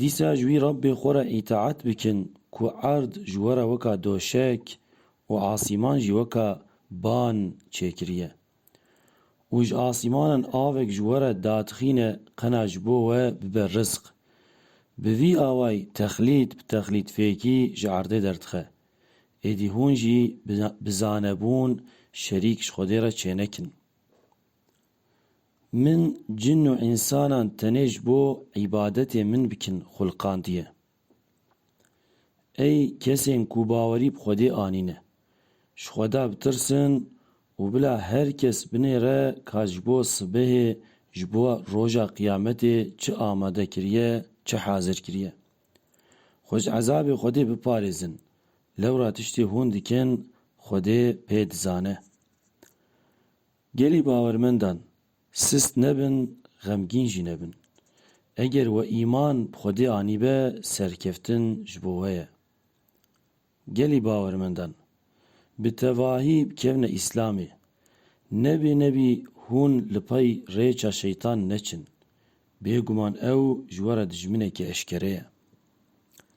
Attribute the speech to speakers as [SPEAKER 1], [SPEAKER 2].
[SPEAKER 1] Dîsa ji wî Rabbê xwe re îtaet bikin ku erd ji we re weka doşek û asîman jî weka ban çêkiriye. Û ji asîmanan avek ji we re datixîne qena ji bo we bibe rizq. Bi vî awayî texlît bi texlît fêkî ji erdê derdixe. Êdî hûn jî bi zanebûn şerîk ji Xwedê re çênekin. Min cin û însanan tenê ji bo îbadetê min bikin xulqandiye. Ey kesên ku bawerî bi Xwedê anîne, ji Xweda bitirsin û bila her kes binêre ka ji bo sibehê, ji bo roja qiyametê çi amade kiriye, çi hazir kiriye. Xwe ji ezabê Xwedê biparêzin, lewra tiştê hûn dikin Xwedê pê dizane. Gelê bawermendan, sist nebin, xemgîn jî nebin. Eger we îman bi Xwedê anîbe, serkeftin ji bo we ye. Gelê bawermendan, bi tevahî bikevne Îslamê. Nebê nebî hûn li pey rêça şeytan neçin. Bêguman ew ji we re dijminekî eşkere ye.